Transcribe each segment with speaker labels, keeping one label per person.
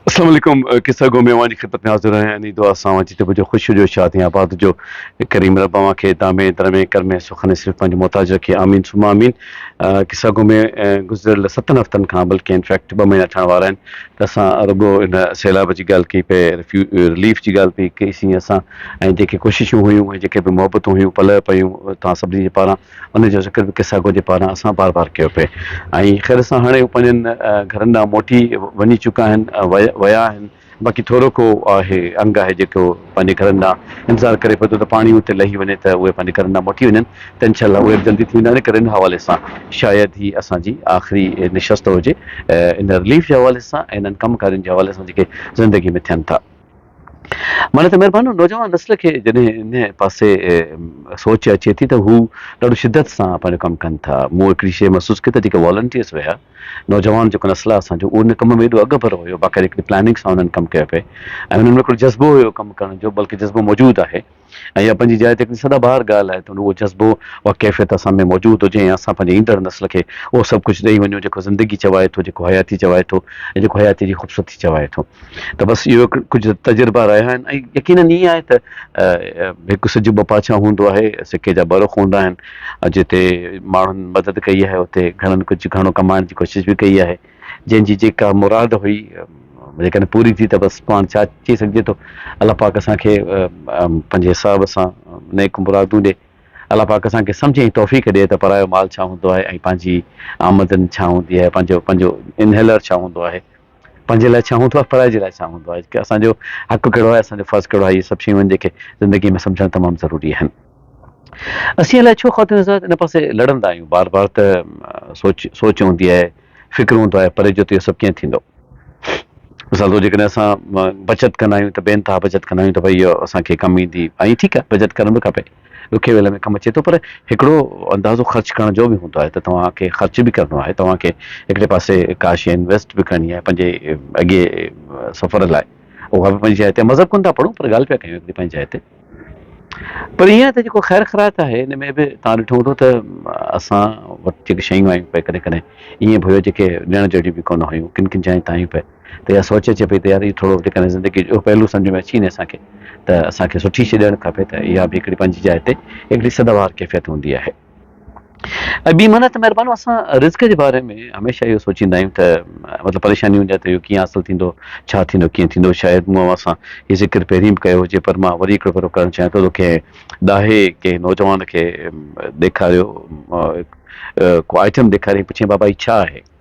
Speaker 1: السلام عليڪم قصه گو ميوان جي خدمت ۾ حاضر آهيان اني دعا سان اوهان جي طب جو خوش هجو شاد ۽ آباد هجو ڪريم رب اوهان کي دامي درمي ڪرمي سخن صرف پنهنجو محتاج رکي آمين ثم آمين قصه گو ۾ گذريل ستن هفتن کان بلڪه ان فيڪٽ ٻه مهينا ٺهڻ وارا آهن ته اسان رڳو ان سيلاب جي ڳالهه ڪئي پئي رليف جي ڳالهه پئي ڪئي سين اسان ۽ جيڪي ڪوششون هيون ۽ جيڪي به محبتون هيون پلئه پيون توهان سڀني جي پاران انهيء جو ذڪر به قصه گو جي پاران اسان بار بار ڪيو پئي ۽ خير سان هاڻي هو پنهنجن گهرن ڏانهن موٽي وڃي چڪا آهن ويا آهن باقي ٿورو ڪو آهي انگ آهي جيڪو پنهنجي گهرن ڏانهن انتظار ڪري پئي ٿو ته پاڻي اتي لهي وڃي ته اهي پنهنجي گهرن ڏانهن موٽي وڃن ته انشاء الله اهي به جلدي ٿي ويندا ان ڪري ان حوالي سان شايد هي اسان جي آخري نشست هجي ان رليف جي حوالي سان ۽ انهن ڪم ڪارين جي حوالي سان جيڪي زندگي ۾ ٿين ٿا. معني ته مھربانو نوجوان نسل کي جڏھن ان پاسي سوچ اچي ٿي ته ھو ڏاڍو شدت سان پنھنجو ڪم ڪن ٿا. مون ھڪڙي شيء محسوس ڪئي ته جيڪي والنٽيئرز ھيا، نوجوان جيڪو نسل آھي اسان جو اھو ان ڪم ۾ ايڏو اڳڀرو ھيو، باقاعدي ھڪڙي پلاننگ سان انھن ڪم ڪيو پئي ۽ انھن ۾ ھڪڙو جذبو ھيو ڪم ڪرڻ جو، بلڪ جذبو موجود آھي. ۽ اها پنهنجي جاء تي هڪڙي سدا بهار ڳالهه آهي ته اهو جذبو، اها ڪيفيت اسان ۾ موجود هجي ۽ اسان پنهنجي ايندڙ نسل کي اهو سڀ ڪجهه ڏئي وڃون جيڪو زندگي چوائي ٿو، جيڪو حياتي چوائي ٿو ۽ جيڪو حياتيء جي خوبصورتي چوائي ٿو ته بس اهو هڪ ڪجهه تجربا رهيا آهن ۽ يقينن ائين آهي ته هڪ سج ٻه پاڇا هوندو آهي، سڪي جا ٻه رخ هوندا آهن، جتي ماڻهن مدد ڪئي آهي اتي گهڻن ڪجهه گهڻو ڪمائڻ جي ڪوشش به ڪئي آهي. جنهن جي جيڪا مراد هئي جيڪڏهن پوري ٿي ته بس پاڻ ڇا چئي سگهجي ٿو الله پاڪ اسان کي پنهنجي ثواب سان نيڪ مرادون ڏي الله پاڪ اسان کي سمجهه ۽ توفيق ڏي ته پرايو مال ڇا هوندو آهي ۽ پنهنجي آمدن ڇا هوندي آهي پنهنجو پنهنجو انهيلر ڇا هوندو آهي پنهنجي لاء ڇا هوندو آهي پرائي جي لاء ڇا هوندو آهي اسان جو حق ڪهڙو آهي اسان جو فرض ڪهڙو آهي اهي سڀ شيون آهن جيڪي زندگي ۾ سمجهڻ تمام ضروري آهن. اسين الائي ڇو خواتين سان ان پاسي لڙندا آهيون بار بار ته سوچ سوچ هوندي آهي فڪر هوندو آهي پري جو ته اهو سڀ ڪيئن ٿيندو مثال طور جيڪڏهن اسان بچت ڪندا آهيون ته بي انتها بچت ڪندا آهيون ته ڀئي اهو اسان کي ڪم ايندي ۽ ٺيڪ آهي بچت ڪرڻ به کپي ڏکي ويل ۾ ڪم اچي ٿو پر هڪڙو اندازو خرچ ڪرڻ جو به هوندو آهي ته توهان کي خرچ به ڪرڻو آهي توهان کي هڪڙي پاسي ڪا شيء انويسٽ به ڪرڻي آهي پنهنجي اڳئي سفر لاء اها به پنهنجي جاء تي مذهب ڪونه ٿا پڙهون پر ڳالهه پيا ڪيون هڪڙي پنهنجي جاء تي پر ايئن آهي ته جيڪو خير خيرات آهي ان ۾ به توهان ڏٺو هوندو ته اسان وٽ جيڪي شيون آيون پئي ڪڏهن ڪڏهن ايئن به هيو جيڪي ڏيڻ جهڙيون به ڪونه هيون ڪن ڪن جاين تان آيون پئي ته اها سوچ اچي پئي ته يار هي ٿورو جيڪڏهن زندگي جو پهلو سمجهه ۾ اچي وڃي اسان کي ته اسان کي سٺي شي ڏيڻ کپي ته اها به هڪڙي پنهنجي جاء تي هڪڙي سداوار ڪيفيت هوندي آهي. ۽ ٻي معنيٰ ته مهربانو اسان رزق جي باري ۾ هميشه اهو سوچيندا آهيون ته مطلب پريشاني هوندي آهي ته اهو ڪيئن حاصل ٿيندو ڇا ٿيندو ڪيئن ٿيندو شايد مون اوهان سان هي ذڪر پهرين به ڪيو هجي پر مان وري هڪڙو ڀيرو ڪرڻ چاهيان ٿو ته ڪنهن ڏاهي ڪنهن نوجوان کي ڏيکاريو ڪو آئٽم ڏيکاريائين پڇيائين بابا هي ڇا آهي؟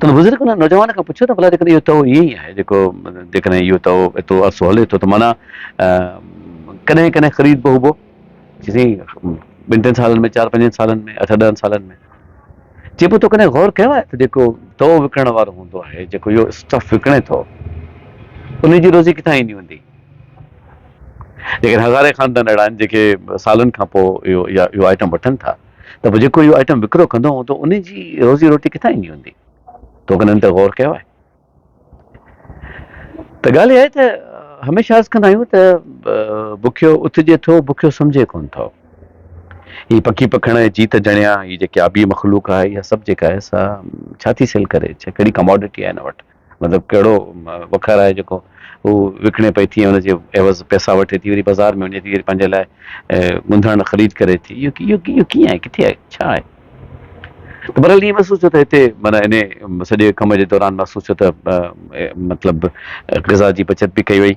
Speaker 1: تنهن بزرگ ان نوجوان کان پڇيو ته ڀلا جيڪڏهن اهو تئو ائين ئي آهي جيڪو جيڪڏهن اهو تئو ايترو عرصو هلي ٿو ته معنيٰ ڪڏهن ڪڏهن خريد به هبو چي سائين ٻن ٽن سالن ۾ چار پنجن سالن ۾ اٺ ڏهن سالن ۾ چي پيو تو ڪڏهن غور ڪيو آهي ته جيڪو تئو وڪڻڻ وارو هوندو آهي جيڪو اهو اسٽف وڪڻي ٿو ان جي روزي ڪٿان ايندي هوندي ليڪن هزارين خاندان اهڙا آهن جيڪي سالن کان پوء اهو اها اهو آئٽم وٺن ٿا ته پوء جيڪو اهو آئٽم وڪرو ڪندو هوندو ان جي روزي روٽي ڪٿان ايندي هوندي؟ تو ڪڏهن ان تي غور ڪيو آهي؟ ته ڳالهه اها آهي ته هميشه عرض ڪندا آهيون ته بکيو اٿجي ٿو، بکيو سمجهي ڪونه ٿو. هي پکي پکڻ ۽ جيت جڻيا، هي جيڪي آبي مخلوق آهي، اها سڀ جيڪا آهي سا ڇا ٿي سيل ڪري؟ ڇا ڪهڙي ڪماڊٽي آهي هن وٽ؟ مطلب ڪهڙو وکر آهي جيڪو هو وڪڻي پئي ٿي ۽ ان جي عيوض پئسا وٺي ٿي وري بازار ۾ وڃي ٿي وري پنهنجي لاء ڳنڌڻ خريد ڪري ٿي اهو اهو اهو ڪيئن آهي ڪٿي آهي ڇا آهي ته بهرحال ائين محسوس ٿيو ته هتي معنيٰ انهي سڄي ڪم جي دوران محسوس ٿيو ته مطلب غذا جي بچت به ڪئي وئي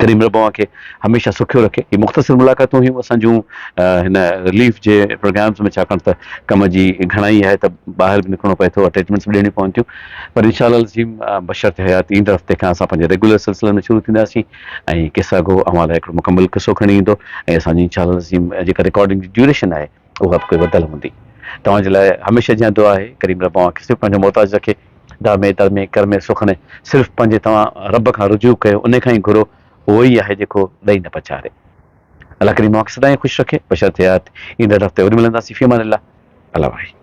Speaker 1: ڪريم رب اوهان کي هميشه سکيو رکي. هي مختصر ملاقاتون هيون اسان جون هن رليف جي پروگرامز ۾ ڇاڪاڻ ته ڪم جي گهڻائي آهي ته ٻاهر به نڪرڻو پئي ٿو اٽيچمينٽس به ڏيڻيون پون ٿيون پر ان شاء الله العظيم بشرط حيات ايندڙ هفتي کان اسان پنهنجي ريگيولر سلسلن ۾ شروع ٿينداسين ۽ قصه گو اوهان لاء هڪڙو مڪمل قصو کڻي ايندو ۽ اسان جي ان شاء الله العظيم جيڪا رڪارڊنگ جي ڊيوريشن آهي اها به ڪوئي وڌل هوندي. توهان جي لاء هميشه جيان دعا آهي، ڪريم رب اوهان کي صرف پنهنجو محتاج رکي، دامي درمي ڪرمي سخني صرف پنهنجي توهان رب کان رجوع ڪيو انهي کان ئي گهرو اهو ئي آهي جيڪو ڏئي نه پچاري. الله ڪريم اوهان کي سدائين خوش رکي، بشرط حيات ايندڙ هفتي وري ملنداسين في امان الله الله واحد.